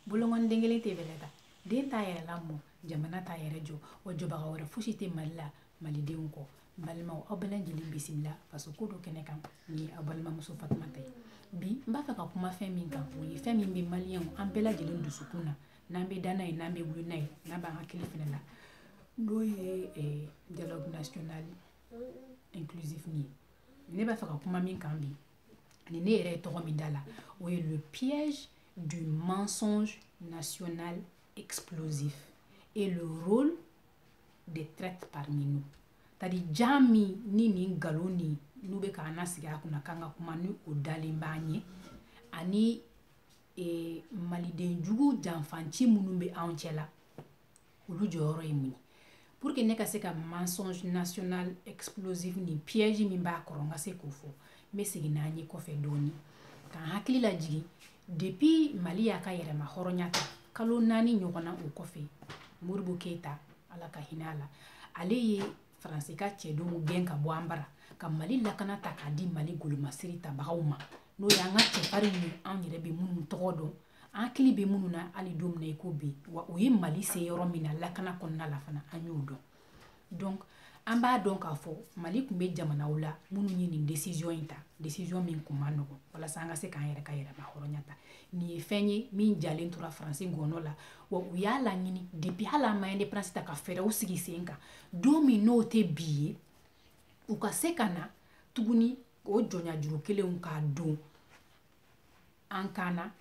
bolokɔni den kelen tɛ bɛlɛ ta den t'a yɛrɛ lamɔ jamana t'a yɛrɛ jɔ wa jɔbaga wɛrɛ fosi tɛ mali la malidenw kɔ balimaw aw bɛɛ lajɛlen bisimila faso ko don kɛnɛ kan nin ye aw balimamuso fatumata ye bi n b'a fɛ ka kuma fɛn min kan o ye fɛn min bɛ maliyɛnw an bɛɛ lajɛlen dusukun na n'an bɛ da n'a ye n'an bɛ wuli n'a ye n'a b'an hakili fɛnɛ na n'o ye eh, dialogue national inclusif nin ye ne b'a fɛ ka kuma min kan bi ani ne yɛrɛ ye tɔgɔ min da la o ye le piège du mensonge national explosif et le rôle des traîtres parmi nous c'est-à-dire jan min ni nin nkalon nin n'u bɛ k'an lasigi a kunna k'an ka kuma ni o dalen b'an ye ani e, maliden jugu janfanci minnu bɛ anw cɛla olu jɔyɔrɔ ye mun ye pour que ne ka se ka mensonge national explosif ni piège min b'a kɔrɔ n ka se k'o fɔ n bɛ segin n'an ye kɔfɛ dɔɔni k'an hakili lajigin depuis mali y'a ka yɛrɛma hɔrɔnya ta kalo naani ɲɔgɔn na o kɔfɛ modibo keyita ala ka hinɛ a la ale ye faransi ka cɛdenw gɛn ka bɔ an bara ka mali lakana ta k'a di mali golomasiri tabagaw ma n'o y'an ka cɛfarinw ye anw yɛrɛ bɛ minnu tɔgɔ dɔn an hakili bɛ minnu na hali don min na i ko bi wa o ye mali se yɔrɔ min na lakana kɔnɔna la fana an y'o dɔn donc an b'a dɔn k'a fɔ mali tun bɛ jamanaw la minnu ye nin décision in ta décision min tun man nɔgɔn walasa an ka se k'an yɛrɛ ka yɛrɛma hɔrɔnya ta nin ye fɛn ye min jalen tora faransi ngɔnɔ la wa u y'a laɲini depuis hali an ma indépendance ta ka fɛɛrɛw sigi sen kan don min n'o tɛ bi ye u ka se ka na tuguni o jɔnyajuru kelenw k'a don an kan na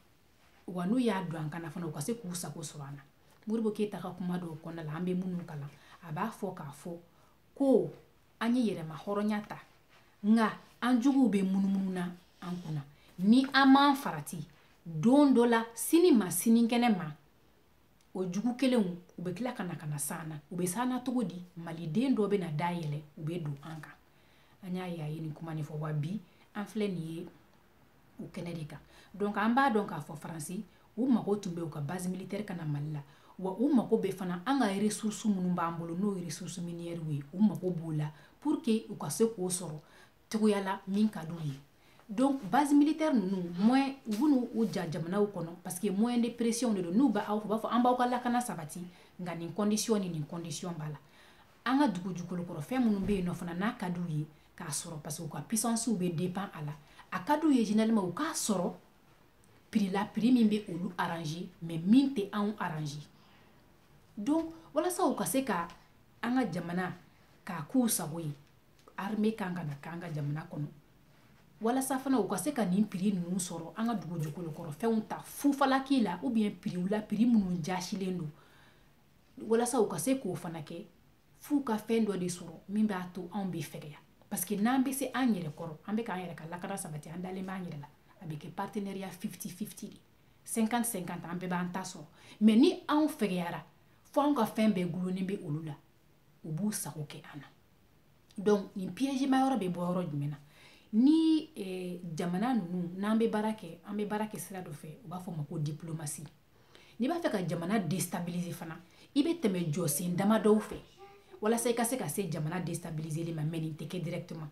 wa n'u y'a don an kan na fana u ka se k'u sago sɔrɔ an na modibo keyita ka kuma dɔw kɔnɔna la an bɛ minnu kalan a b'a fɔ k'a fɔ ko an ye yɛrɛma hɔrɔnya ta nka an juguw bɛ munumunu na an kunna ni an m'an farati don dɔ la sini ma sinikɛnɛ ma o jugu kelenw u bɛ tila ka na ka na s'an na u bɛ s'an na cogo di maliden dɔ bɛ na da yɛlɛ u bɛ don an kan an y'a ye a ye nin kuma nin fɔ wa bi an filɛ nin ye o kɛnɛ de kan donc an b'a dɔn k'a fɔ faransi u mago tun bɛ u ka base militaire ka na mali la wa u mago bɛ fana an ka ressource minnu b'an bolo n'o ye ressource minière ye u mago b'o la pour que u ka se k'o sɔrɔ cogoya la min ka d'u ye donc base militaire ninnu moyen u b'u u jɔ jamanaw kɔnɔ parce que moyen de pression de don n'u b'a u b'a fɔ an b'aw ka lakana sabati nka nin condition ni nin condition b'a la an ka dugu jukɔrɔ fɛn minnu bɛ yen n'o fana n'a ka d'u ye k'a sɔrɔ parce que u ka puissancew bɛ dépend a la a ka d'u ye généralement u k'a sɔrɔ prix la prix min bɛ olu arranger mais min tɛ anw arranger donc walasa u ka se ka an ka jamana k'a k'u sago ye armée kan ka na k'an ka jamana kɔnɔ walasa fana u ka se ka nin prix ninnu sɔrɔ an ka dugu jukɔrɔ fɛnw ta fufalaki la ou bien prix la prix minnu jasilen don walasa u ka se k'o fana kɛ f'u ka fɛn dɔ de sɔrɔ min b'a to anw bɛ fɛgɛya parce que n'an bɛ se an yɛrɛ kɔrɔ an bɛ k'an yɛrɛ ka lakana sabati an dalen b'an yɛrɛ la a bɛ kɛ partenariat fifty fifty de cinquante cinquante an bɛɛ b'an ta sɔrɔ mais ni anw fɛgɛyara fo anw ka fɛn bɛɛ gulonnen bɛ olu la u b'u sago kɛ an na donc nin piège ma yɔrɔ bɛ bɔ yɔrɔ jumɛn na ni eh, jamana ninnu n'an bɛ baara kɛ an bɛ baara kɛ sira dɔ fɛ u b'a fɔ o ma ko diplomasi n'i b'a fɛ ka jamana destabiliser fana i bɛ tɛmɛ jɔsen dama dɔw fɛ walasa i ka se ka se jamana destabiliseli ma mais nin tɛ kɛ directement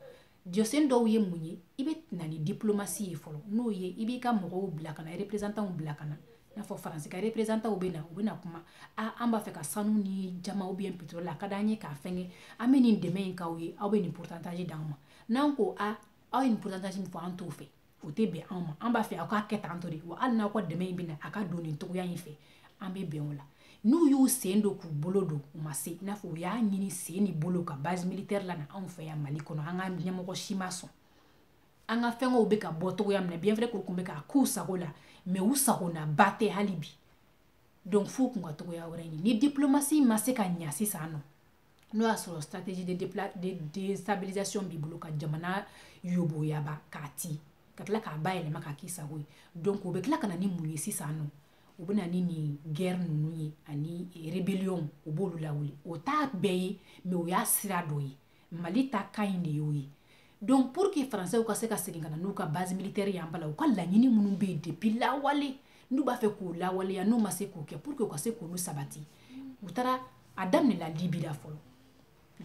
jɔsen dɔw ye mun ye i bɛ na ni diplomasi ye fɔlɔ n'o ye i b'i ka mɔgɔw bila ka na représentanw bila ka na n'a fɔ faransi ka représentanw bɛ na u bɛna kuma a an b'a fɛ ka sanu ni jaman ou bien pétrole a ka d'an ye k'a fɛngɛ an bɛ nin dɛmɛ in k'aw ye aw bɛ nin pourcentage d'an ma n'an ko a aw ye nin pourcentage min fɔ an t'o fɛ o tɛ bɛn anw ma an b'a fɛ aw k'a kɛ tan tɔ de wa hali n'aw ka dɛmɛ in bɛ na a ka don nin cogoya in fɛ an bɛ bɛn o la n'u y'u sen don k'u bolo don u ma se i n'a fɔ u y'a ɲini sen ni bolo ka base militaire lana anw fɛ yan mali kɔnɔ an ka ɲɛmɔgɔ si ma sɔn an ka fɛngɛw bɛ ka bɔ cogoya min na bien vrai k'u kun bɛ k'a k'u sago la mais u sagonaba tɛ hali bi donc f'u kun ka cogoya wɛrɛ ɲini ni diplomasi ma se ka ɲa sisan nɔ n'o y'a sɔrɔ stratégie de, de déstabilisation b'i bolo ka jamana yoboyaba k'a ti ka tila k'a bayɛlɛma k'a k'i sago ye donc u bɛ tila ka na ni mun ye sisan nɔ u bɛ na ni nin guerre ninnu ye ani rébellion u b'olu lawuli o t'a bɛɛ ye mais o y'a sira dɔ ye mali ta kan in de y'o ye donc pour que français ka se ka segin ka na n'u ka base militaire y'an bala u ka laɲini minnu bɛ yen depuis lawale n'u b'a fɛ k'o lawaleya n'u ma se k'o kɛ pour que u ka se k'olu sabati u taara a daminɛla libi la fɔlɔ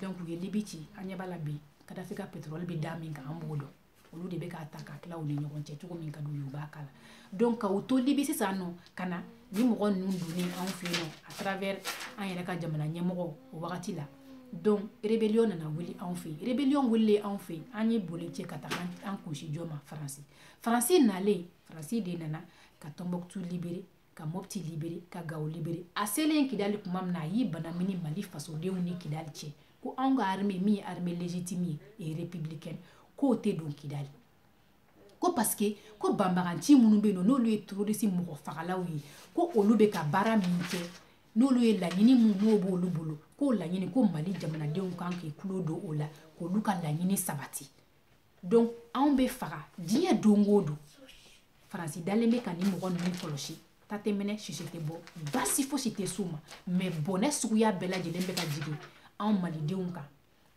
donc u ye libi ci an ɲɛ b'a la bi kadafi ka pétrole bɛ da min kan an b'o dɔn olu de bɛ k'a ta k'a tila u ni ɲɔgɔn cɛ cogo min ka d'u ye u b'a k'a la donc ka u to libi sisan nɔ ka na ni mɔgɔ ninnu donni anw fɛ yen nɔ à travers an yɛrɛ ka jamana ɲɛmɔgɔ o wagati la donc rébellion nana wuli anw fɛ yen rébellion wulilen anw fɛ yen an ye boli cɛ ka taga an kun sin jɔn ma faransi faransi nalen faransi de nana ka tɔnbɔkutu libérer ka mɔpti libere ka gawo libere a selen kidali tuma min na a y'i banamini mali fasodenw ni kidali cɛ ko anw ka arme min ye arme legitime ye republicaine k'o tɛ don kidali ko paske ko banbaganci minnu bɛ yen nɔ n'olu ye terorisi mɔgɔ fagalaw ye ko olu bɛ ka baara min kɛ n'olu ye laɲini min n'o b'olu bolo k'o laɲini ko mali jamanadenw kan k'i tulo don o la k'olu ka laɲini sabati donc anw bɛ faga diɲɛ don o don faransi dalen bɛ ka nin mɔgɔ ninnu kɔlɔsi ta tɛ mɛnɛ sisi tɛ bɔ basi fosi tɛ s'u ma mɛ bɔnɛ suguya bɛɛ lajɛlen bɛ ka jigin anw malidenw kan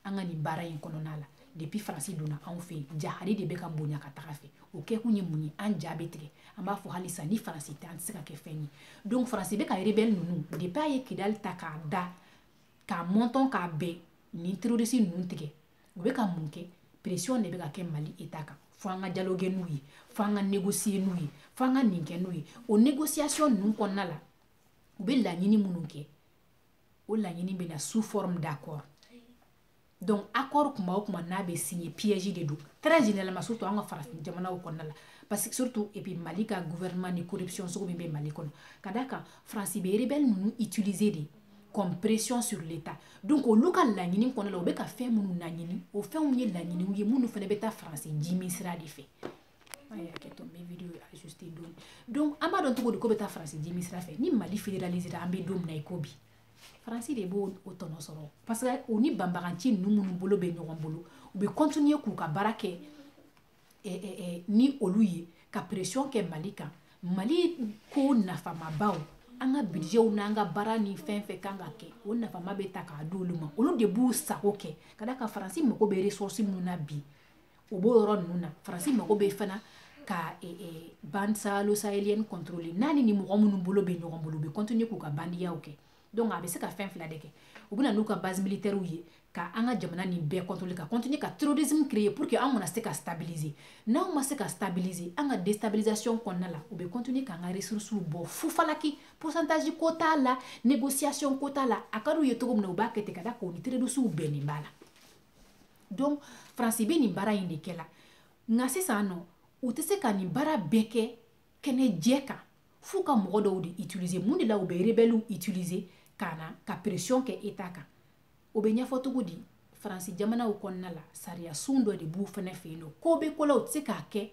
an ka nin baara in kɔnɔna la depuis faransi donna anw fɛ yen jahari de bɛ ka bonya ka taga fɛ o kɛkun ye mun ye an ja bɛ tigɛ an b'a fɔ halisa ni faransi tɛ an tɛ se ka kɛ fɛn ye donc faransi bɛ ka rebɛli ninnu depuis a ye kidali ta k'a da k'a mɔntɔn k'a bɛn nin terorisi ninnu tigɛ u bɛ ka mun kɛ pression de bɛ ka kɛ mali eta kan fo an ka dialogue n'u ye fo an ka négocier n'u ye fo an ka nin kɛ n'u ye o négociation ninnu kɔnɔna la u bɛ laɲini minnu kɛ o laɲini bɛ na sous forme d'accord donc accord kuma o kuma n'a bɛ signer piège de don très généralement surtout an ka farafin jamanaw kɔnɔna la parce que surtout et puis mali ka gouvernement ni corruption sugu min bɛ mali kɔnɔ ka d'a kan faransi bɛ rebelle ninnu utiliser de comme pression sur l'état donc olu ka laɲini kɔnɔna la u bɛ ka fɛn minnu laɲini o fɛnw ye laɲiniw ye minnu fana bɛ taa faransi jimi sira de fɛ hakɛto n bɛ video ajuster dɔɔni donc an b'a dɔn cogo di k'o bɛ taa faransi jimi sira fɛ ni mali fédéralisera an bɛ don min na i ko bi faransi de b'o tɔnɔ sɔrɔ parce que u ni banbaganci ninnu minnu bolo bɛ ɲɔgɔn bolo u bɛ continuer k'u ka baara kɛ eh, eh, eh, ni olu ye ka pression kɛ mali kan mali ko nafamabaw an ka budgetw n'an ka baara ni fɛn fɛn kan ka kɛ o nafama bɛ ta k'a di olu ma olu de b'u sago kɛ ka d'a kan faransi mago bɛ ressource minnu na bi o b'o yɔrɔ ninnu na faransi mago bɛ fana ka e, e, bande sahélo sahélienne contrôler n'a ni nin mɔgɔ minnu bolo bɛ ɲɔgɔn bolo u bɛ continuer k'u ka bandiyaw kɛ donc a bɛ se ka fɛn fila de kɛ u bɛ na n'u ka base militaire ye ka an ka jamana nin bɛɛ contrôler ka continuer ka terrorisme créer pour que an kana se ka stabiliser n'anw ma se ka stabiliser an ka déstabilisation kɔnɔna la u bɛ continuer k'an ka ressources bɔ fufalaki pourcentage ko t'a la négociation ko t'a la a ka d'u ye cogo min na u b'a kɛ ten ka da k'u ni terroristes bɛnnen b'a la donc faransi bɛ nin baara in de kɛ la nka sisan nɔ u tɛ se ka nin baara bɛɛ kɛ kɛnɛ jɛ kan f'u ka mɔgɔ dɔw de utiliser mun de la u bɛ rebɛliw utiliser ka na ka pression kɛ eta kan o bɛ ɲɛfɔ cogo di faransi jamanaw kɔnɔna la sariyasun dɔ de b'u fana fɛ yen nɔ ko bɛ ko la u tɛ se k'a kɛ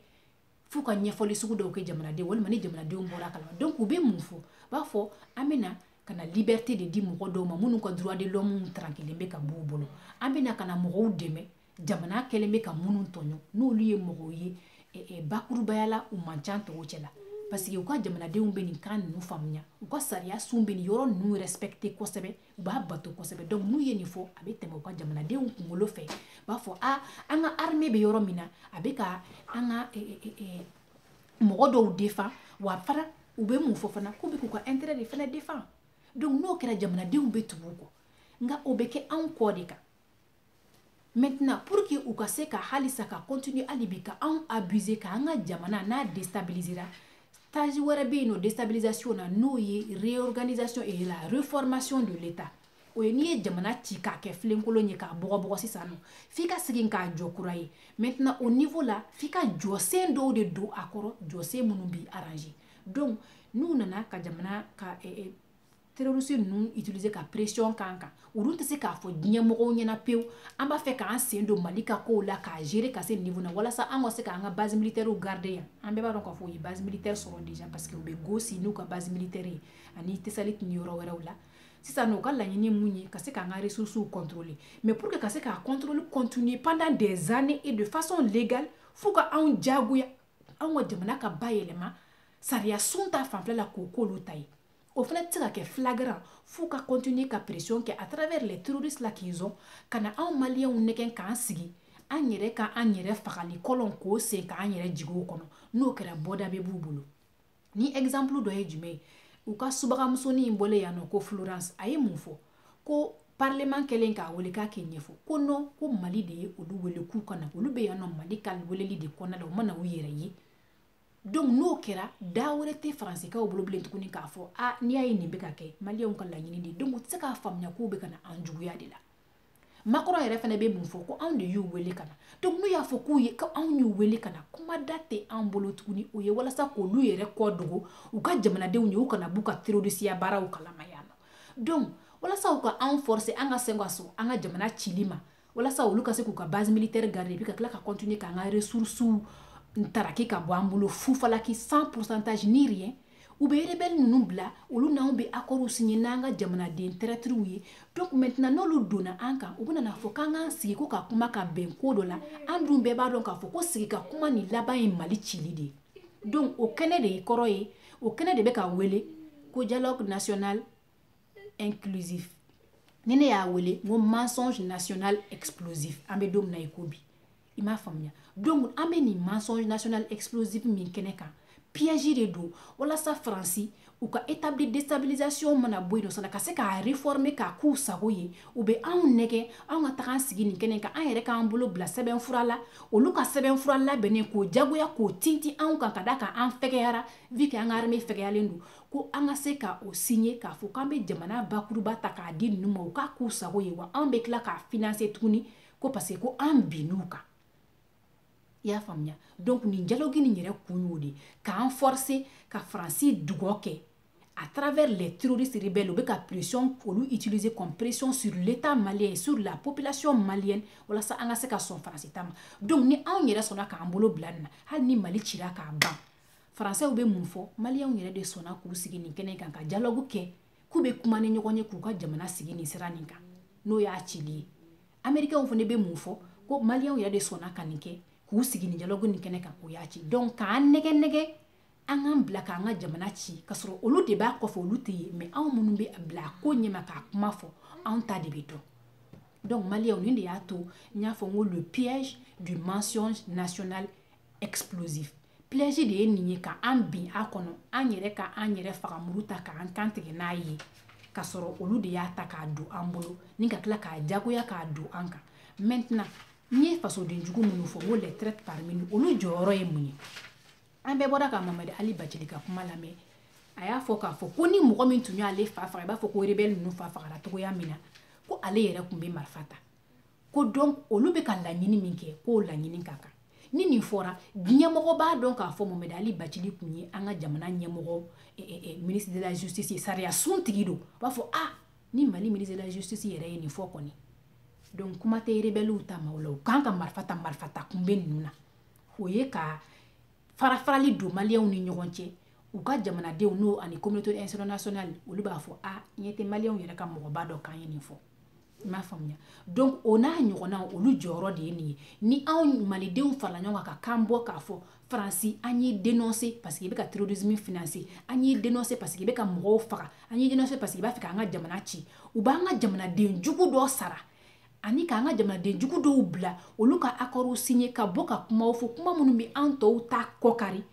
f'u ka ɲɛfɔli sugu dɔw kɛ jamanadenw walima ni jamanadenw bɔr'a kalama donc u bɛ mun fɔ u b'a fɔ an bɛ na ka na liberté de di mɔgɔ dɔw ma minnu ka droit de l'homme trankilen bɛ ka b'u bolo an bɛ na ka na mɔgɔw dɛmɛ jamana kɛlen bɛ ka minnu tɔɲɔ n'olu ye mɔgɔw ye eh, eh, bakurubaya la u man ca tɔw cɛ la parce que u ka jamanadenw bɛ nin kan ninnu faamuya u ka sariya sun bɛ nin yɔrɔ ninnu respecter kosɛbɛ u b'a bato kosɛbɛ donc n'u ye nin fɔ a bɛ tɛmɛ u ka jamanadenw kunkolo fɛ u b'a fɔ a an ka armée bɛ yɔrɔ min na a bɛ ka an ka eh, eh, eh, mɔgɔ dɔw defan wa fana u bɛ mun fɔ fana k'u bɛ k'u ka intérêt de fana defan donc n'o kɛra jamanadenw bɛ tugu u kɔ nka o bɛ kɛ anw kɔ de kan maintenant pour que u ka se ka halisa ka continuer hali bi ka anw abuser ka an ka jamana n'a déstabilisera stage wɛrɛ bɛ yen nɔ déstabilisation na n'o ye réorganisation et la reformation de l'état o ye n'i ye jamana ci k'a kɛ filenkolon ye k'a bɔgɔbɔgɔ sisan nɔ f'i ka segin k'a jɔ kura ye maintenant au niveau la f'i ka jɔsen dɔw de don a kɔrɔ jɔsen minnu b'i arranger donc n'u nana ka jamana ka eh, eh, terroriste ninnu utiliser ka pression k'an kan olu tɛ se k'a fɔ diɲɛmɔgɔw ɲɛna pewu an b'a fɛ k'an sen don mali ka kow la k'a gérer ka se niveau na walasa an ka se k'an ka base militaire garder yan an bɛɛ b'a dɔn k'a fɔ u ye base militaire sɔrɔ déjà parce que u bɛ gossi n'u ka base militaire ye ani tessalit ni yɔrɔ wɛrɛw la sisan nɔ u ka laɲini mun ye ka se k'an ka ressources contrôler mais pour que ka se k'a contrôle continuer pendant des années et de façon légale f'u ka anw jagoya anw ka jamana ka bayɛlɛma sariya sun ta fanfɛla k'o k'olu ta ye o fana tɛ se ka kɛ flagrant f'u ka continuer ka pression kɛ à travers les terroristes là qu'ils ont ka na anw maliyɛnw nɛgɛn k'an sigi an yɛrɛ ka an yɛrɛ fagali kɔlɔn k'o sen ka an yɛrɛ jigin o kɔnɔ n'o kɛra bɔda bɛ b'u bolo ni exemple dɔ ye jumɛn ye u ka subagamusonin in bɔlen yan nɔ ko florence a ye mun fɔ ko parlement kɛlen k'a wele k'a k'i ɲɛfɔ ko non ko mali de ye olu wele k'u ka na olu bɛ yan nɔ mali ka weleli de kɔnɔna la u ma na u yɛrɛ ye donc n'o kɛra da wɛrɛ tɛ faransikaw bolo bilen tuguni k'a fɔ a n'i y'a ye nin bɛ ka kɛ maliyɛnw ka laɲini de donc u tɛ se k'a faamuya k'u bɛ ka na an juguya de la macron yɛrɛ fana bɛ mun fɔ ko anw de y'u wele ka na donc n'u y'a fɔ k'u ye ko anw y'u wele ka na kuma da tɛ an bolo tuguni o ye walasa k'olu yɛrɛ kɔ dogo u ka jamanadenw ye u kana b'u ka terrorisiya baaraw kalama yan nɔ donc walasa u ka anw forcer an ka se ka sɔn an ka jamana cili ma walasa olu ka se k'u ka base militaire garder et puis ka tila ka continuer k'an ka ressources ntaraki ka bɔ an bolo fufalaki sans pourcentage ni rien u bɛ rebelle ninnu bila olu n'anw bɛ accords signer n'an ka jamanaden traîtres ye donc maintenant n'olu donna an kan u bɛna n'a fɔ k'an k'an sigi ko ka kuma ka bɛn ko dɔ la an dun bɛɛ b'a dɔn k'a fɔ ko sigi ka kuma nin laban ye mali cili de ye donc o kɛnɛ de ye kɔrɔ ye o kɛnɛ de bɛ ka wele ko dialogue national inclusif ni ne y'a wele n ko mensonge national explosif an bɛ don min na i ko bi i m'a faamuya donc an bɛ nin mensonge national explosif min kɛnɛ kan piège de don walasa faransi u ka établi déstabilisation mana bɔ yen n'o sɔnna ka se k'a réformer k'a k'u sago ye u bɛ anw nɛgɛ anw ka taga an sigi nin kɛnɛ kan an yɛrɛ k'an bolo bila sɛbɛnfura la olu ka sɛbɛnfura labɛnnen k'o jagoya k'o tintin anw kan ka da kan an fɛgɛyara vu que an ka armée fɛgɛyalen don ko an ka se ka o sinye k'a fɔ k'an bɛ jamana bakuruba ta k'a di ninnu ma u k'a k'u sago ye wa an bɛ tila k'a financer tuguni ko parce que an binn'u kan i y'a faamuya donc nin dialogue nin yɛrɛ kun y'o de k'an forcer ka faransi dungɔ kɛ à travers les terroristes rebelles u bɛ ka pression olu utiliser comme pression sur l'état malien sur la population malienne walasa an ka se ka sɔn faransi ta ma donc ni anw yɛrɛ sɔnna k'an bolo bila nin na hali ni mali cira k'a ban faransɛw bɛ mun fɔ maliyɛnw yɛrɛ de sɔnna k'u sigi nin kɛnɛ kan ka dialogue kɛ k'u bɛ kuma ni ɲɔgɔn ye k'u ka jamana sigi nin sira nin kan n'o y'a cili ye amerikɛnw fana bɛ mun fɔ ko maliyɛnw yɛrɛ de sɔnna ka nin kɛ k'u sigi nin dialogue nin kɛnɛ kan o y'a ci donc k'an nɛgɛ nɛgɛ an k'an bila k'an ka jamana ci k'a sɔrɔ olu de b'a kɔfɛ olu tɛ ye mais anw minnu bɛ bila a ko ɲɛma k'a kuma fɔ anw ta de bɛ dɔn donc maliyɛnw nin de y'a to n y'a fɔ n ko le piège du mensonge national explosif piège de ye nin ye ka an bin a kɔnɔ an yɛrɛ ka an yɛrɛ faga muru ta k'an kan tigɛ n'a ye k'a sɔrɔ olu de y'a ta k'a don an bolo ni ka tila k'a jagoya k'a don an kan maintenant n ye fasoden jugu minnu fɔ n ko les traîtres parmi nous olu jɔyɔrɔ ye mun ye an bɛɛ bɔra ka mɔhamɛdi ali bacili ka kuma lamɛn a y'a fɔ k'a fɔ ko ni mɔgɔ min tun y'ale fa faga i b'a fɔ ko rebɛli ninnu fa fagara cogoya min na ko ale yɛrɛ tun bɛ marifa ta ko donc olu bɛ ka laɲini min kɛ k'o laɲini ka kan ni nin fɔra ɲɛmɔgɔ b'a dɔn k'a fɔ mɔhamɛdi ali bacili tun ye an ka jamana ɲɛmɔgɔ eh, eh, eh, ministre de la justice sariya sun tigi don u b'a fɔ a ah, ni mali ministre de la justice yɛrɛ ye nin fɔ kɔni donc kuma tɛ rebɛliw ta ma o la u kan ka marifa ta marifa ta kun bɛ ninnu na o ye ka farafarali don maliyɛnw ni ɲɔgɔn cɛ u ka jamanadenw n'o ani communauté internationale olu b'a fɔ a ah, ɲɛ tɛ maliyɛnw yɛrɛ ka mɔgɔba dɔ kan ye nin fɔ i m'a faamuya donc o n'a ɲɔgɔnna olu jɔyɔrɔ de ye nin ye ni anw malidenw farala ɲɔgɔn kan ka kan bɔ k'a fɔ faransi an y'i dénoncer parce que i bɛ ka terrorisme financer an y'i dénoncer parce que i bɛ ka mɔgɔw faga an y'i dénoncer parce que i b'a fɛ k'an ka jamana ci u b'an ka jamanaden jugu dɔ sara ani k'an ka jamanaden jugu dɔw bila olu ka akɔriw sinye ka bɔ ka kumaw fɔ kuma minnu bɛ an tɔw ta kɔkari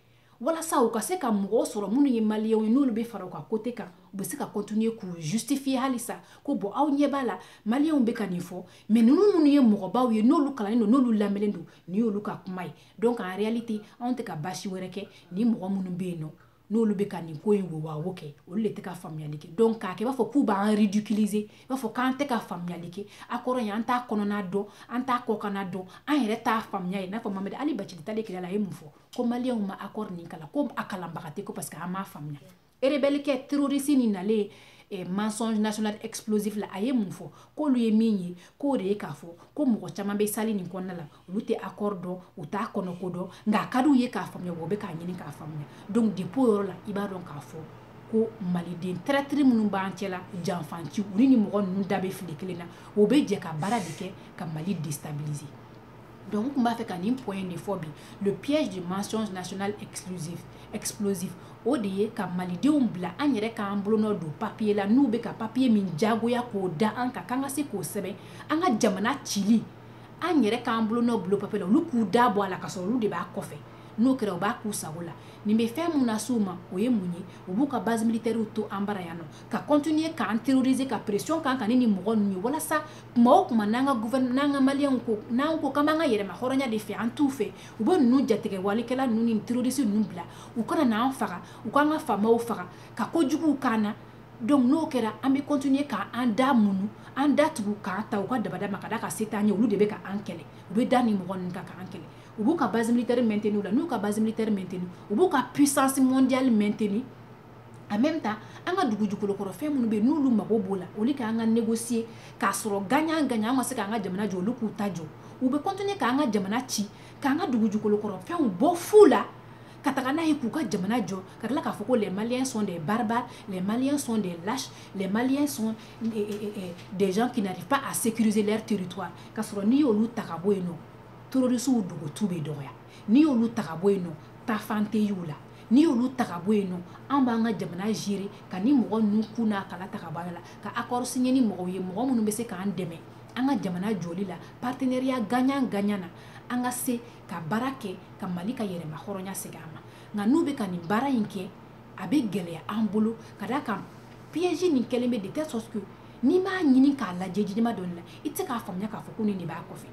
walasa u ka se ka mɔgɔw sɔrɔ minnu ye maliyɛnw ye n'olu bɛ fara u ka côté kan u bɛ se ka continuer k'u justifier halisa ko bon aw ɲɛ b'a la maliyɛnw bɛ ka nin fɔ mais ninnu minnu ye mɔgɔbaw ye n'olu kalannen don n'olu lamɛnnen don nin y'olu ka kuma ye donc en réalité anw tɛ ka baasi wɛrɛ kɛ ni mɔgɔ minnu bɛ yen nɔ n'olu bɛ ka nin ko in wowawo kɛ olu de tɛ ka faamuyali kɛ donc k'a kɛ i b'a fɔ k'u b'an ridiculiser i b'a fɔ k'an tɛ ka faamuyali kɛ accord in an t'a kɔnɔna dɔn an t'a kɔkana dɔn an yɛrɛ t'a faamuya ye i n'a fɔ mamɛdi ali bacili taalen kɛlɛ la a ye mun fɔ ko maliyɛnw ma accord nin kalan ko a kalanbaga tɛ ko parce que an m'a faamuya rebelle kɛ terroriste nin nalen eh, mensonge national explosif la a ye mun fɔ k'olu ye min ye k'o de ye k'a fɔ ko mɔgɔ caman bɛ salle nin kɔnɔna la olu tɛ accord dɔn u t'a kɔnɔ ko dɔn nka a ka d'u ye k'a faamuya wa u bɛ k'a ɲini k'a faamuya donc depuis o yɔrɔ la i b'a dɔn k'a fɔ ko maliden traître minnu b'an cɛla janfanci u ni nin mɔgɔ ninnu da bɛ file kelen na o bɛ jɛ ka baara de kɛ ka mali déstabiliser Donc, n tun b'a fɛ ka nin point in de fɔ bi le piège du mensonge national exclusif explosif o de ye ka malidenw bila an yɛrɛ k'an bolonɔ don papier la n'u bɛ ka papier min jagoya k'o da an kan k'an ka se k'o sɛbɛn an ka jamana cili an yɛrɛ k'an bolonɔ bil'o papier la olu k'u da bɔ a la k'a sɔrɔ olu de b'a kɔfɛ n'o kɛra u b'a k'u sago la nin bɛ fɛn min lase u ma o ye mun ye u b'u ka base militaires to an bara yan nɔ ka continuer k'an terroriser ka pression k'an kan ni nin mɔgɔ ninnu ye walasa kuma o kuma n'an ka gouvernement n'an ka maliyɛnw ko n'an ko k'an b'an ka yɛrɛma hɔrɔnya de fɛ an t'u fɛ u bɛ ninnu jatigɛwalikɛla ninnu ni terroriste ninnu bila u ka na an faga u k'an ka faamaw faga ka kojuguw k'an na donc n'o kɛra an bɛ continuer k'an da munu an da tugu k'an ta u ka dabada ma ka da ka se t'an ye olu de bɛ ka an kɛlɛ u bɛ da nin mɔgɔ ninnu kan k'an kɛlɛ u b'u ka base militaire maintenir la n'u ka base militaire maintenir u b'u ka puissance mondiale maintenir en même temps an ka dugujukɔrɔ fɛn minnu bɛ n'olu mago b'o la olu kan ka négocier k'a sɔrɔ gagnant gagnant an ka se k'an ka jamana jɔ olu k'u ta jɔ u bɛ continuer k'an ka jamana ci k'an ka dugujukɔrɔ fɛnw bɔ fu la ka taga n'a ye k'u ka jamana jɔ ka tila k'a fɔ ko les maliens sont des barbares les maliens sont des lâches les maliens sont eh, eh, eh, des gens qui n'arrivent pas à sécuriser leur territoire ka sɔrɔ n'i y'olu ta ka bɔ yen nɔ terroristes dogotu bɛ dɔgɔya n'i y'olu ta ka bɔ yen nɔ taafan tɛ y'u la n'i y'olu ta ka bɔ yen nɔ an b'an ka jamana gérer ka nin mɔgɔ ninnu kun n'a kala ta ka bɔ a la ka accord signer ni mɔgɔw ye mɔgɔ minnu bɛ se k'an dɛmɛ an ka jamana jɔli la partenariat gagnant gagnant na an ka se ka baara kɛ ka Mali ka yɛrɛma hɔrɔnya segin a ma nka n'u bɛ ka nin baara in kɛ a bɛ gɛlɛya an bolo ka d'a kan piège nin kɛlen bɛ de telle sorte que n'i m'a ɲini k'a lajɛ jidima dɔɔni la i tɛ se k'a faamuya k'a fɔ ko nin de b'a kɔfɛ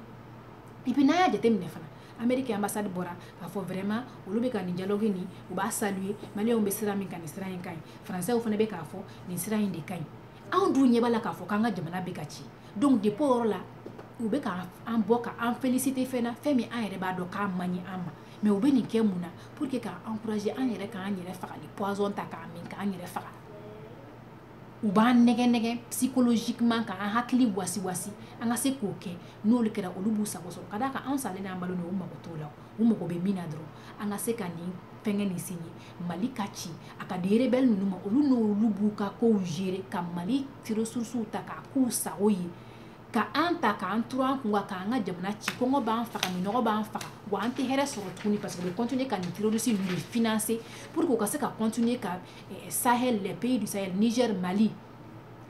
et puis n'an y'a jateminɛ fana ameriki ambassade bɔra k'a fɔ vraiment olu bɛ ka nin dialogue nin u b'a saluer maliyɛnw bɛ sira min kan nin sira in ka ɲi français fana bɛ k'a fɔ nin sira in de ka ɲi anw dun ɲɛ b'a la k'a fɔ k'an ka jamana bɛ ka ci donc depuis o yɔrɔ la u bɛ ka an bɔ ka an féliciter fɛn na fɛn min an yɛrɛ b'a dɔn k'a man ɲi an ma mais u bɛ nin kɛ mun na pour que k'an encourager an yɛrɛ k'an yɛrɛ faga ni poison ta k'a min k'an yɛrɛ faga u b'an nɛgɛ nɛgɛ psychologiquement k'an hakili wasiwasi an ka se k'o kɛ n'olu kɛra olu b'u sago sɔrɔ ka d'a kan anw salen n'an balolen u mago t'o la u mago bɛ min na dɔrɔn an ka se ka nin fɛngɛ nin signer mali ka ci a ka di rebelle ninnu ma olu n'olu b'u ka kow gérer ka mali ressources ta k'a k'u sago ye ka an ta k'an turu an kun kan k'an ka jamana ci kɔngɔ b'an faga minɔgɔ b'an faga wa an tɛ hɛrɛ sɔrɔ tuguni parce que u bɛ continuer ka nin terroriste ninnu de financer pour que u ka se ka continuer ka sahel les pays du sahel niger mali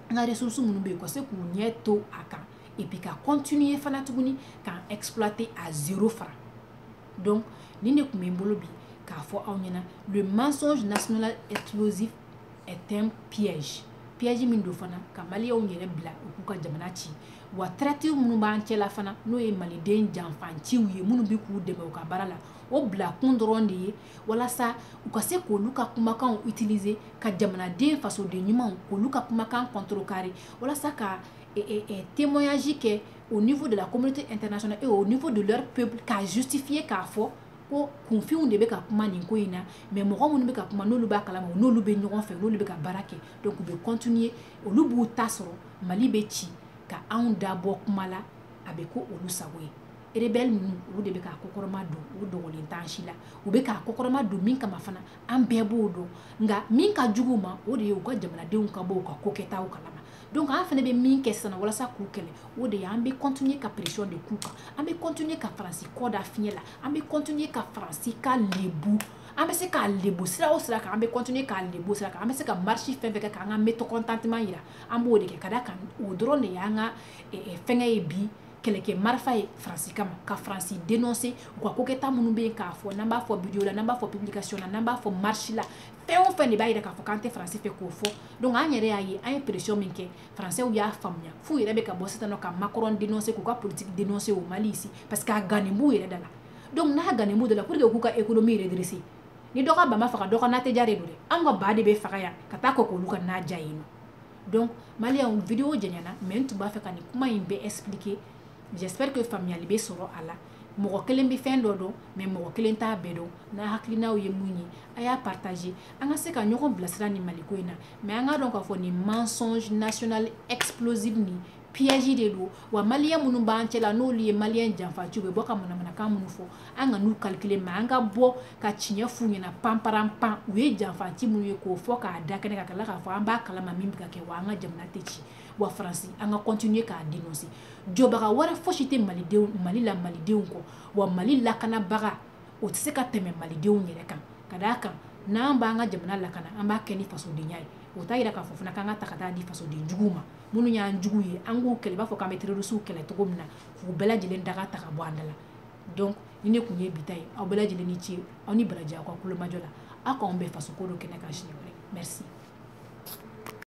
an ka ressources minnu bɛ yen ka se k'u ɲɛ to a kan et puis ka continuer fana tuguni k'an exploiter à zéro franc donc nin de tun bɛ n bolo bi k'a fɔ aw ɲɛna le mensonge national explosif est un piège piège min don fana ka maliyɛnw yɛrɛ bila u k'u ka jamana ci wa traîtres minnu b'an cɛla fana n'o ye maliden janfanciw ye minnu bɛ k'u dɛmɛ u ka baara la o bila kun dɔrɔn de ye walasa u ka se k'olu ka kumakanw utiliser ka jamanaden fasoden ɲumanw k'olu ka kumakan contrecarrer walasa ka e, e, e, témoignage kɛ au niveau de la communauté internationale et au niveau de leur peuple k'a justifier k'a fɔ ko kunfinw de bɛ ka kuma nin ko in na mais mɔgɔ minnu bɛ ka kuma n'olu b'a kalama u n'olu bɛ ɲɔgɔn fɛ n'olu bɛ ka baara kɛ donc u bɛ continuer olu b'u ta sɔrɔ mali bɛ ci ka anw da bɔ kuma la a bɛ k'olu sago ye rebelle ninnu olu de bɛ k'a kɔkɔrɔma don o dogolen t'an si la u bɛ k'a kɔkɔrɔma don min kama fana an bɛɛ b'o dɔn nka min ka jugu u ma o de ye u ka jamanadenw ka bɔ u ka kokɛtaw kalama donc an fana bɛ min kɛ sisan walasa k'u kɛlɛ o de ye an bɛ continuer ka pression de k'u kan an bɛ continuer ka faransi kɔ da fiɲɛ la an bɛ continuer ka faransi ka lebu an bɛ se k'a lebu sira o sira kan an bɛ continuer k'a lebu sira kan an bɛ se ka marche fɛn fɛn kɛ k'an ka mécontentement yira an b'o de kɛ ka d'a kan o dɔrɔn de y'an ka fɛngɛ ye bi kɛlɛkɛ marifa ye faransi kama ka faransi dénoncer u ka kokɛta minnu bɛ yen k'a fɔ n'an b'a fɔ video la n'an b'a fɔ publication na n'an b'a fɔ marche la fɛn o fɛn de b'a yira k'a fɔ k'an tɛ faransi fɛ k'o fɔ donc an yɛrɛ y'a ye an ye pression min kɛ faransɛw y'a faamuya f'u yɛrɛ bɛ ka bɔ sisan nɔ ka macron dénoncer k'u ka politique dénoncer au mali ici parce que a gannen b'u yɛrɛ da la donc n'a gannen b'u da la pour que k'u ka économie redresser ni dɔ ka ba ma faga dɔ ka na tɛ diya de don dɛ an ka ba de bɛ faga yan ka taa kɔ k'olu ka na diya yen nɔ donc maliyɛnw video janyana mais n tun b'a fɛ ka nin kuma in bɛɛ expliquer j'espère que faamuyali bɛ sɔrɔ a la mɔgɔ kelen bɛ fɛn dɔ dɔn mais mɔgɔ kelen t'a bɛɛ dɔn n'a hakilinaw ye mun ye a y'a partager an ka se ka ɲɔgɔn bilasira nin maliko in na mais an k'a dɔn k'a fɔ nin mensonge national explosive nin piège de don wa maliyɛn minnu b'an cɛla n'olu ye maliyɛn janfaciw bɛ bɔ ka manamanakan minnu fɔ an kan'u calculer mais an ka bɔ ka tiɲɛ f'u ɲɛna panparanpan u ye janfaci minnu ye k'o fɔ k'a da kɛnɛ kan ka tila k'a fɔ an b'a kalama min bɛ ka kɛ wa an ka jamana tɛ ci wa faransi an ka continuer k'a dénoncer jɔbaga wɛrɛ fosi tɛ mali la malidenw kɔ wa mali lakanabaga o tɛ se ka tɛmɛ malidenw yɛrɛ kan ka d'a kan n'an b'an ka jamana lakana an b'a kɛ ni fasodenya ye o t'a jira k'a fɔ fana k'an k'a ta ka t'a di fasoden juguw ma minnu y'an juguw ye an k'u kɛlɛ i b'a fɔ k'an bɛ terrorisiw kɛlɛ cogo min na k'u bɛɛ lajɛlen daga ta ka bɔ an da la donc nin de tun ye bi ta ye aw bɛɛ lajɛlen ni ce aw ni baraji aw ka tulomajɔ la aw k'an bɛn fasoko don kɛnɛ kan siɲɛ wɛrɛ merci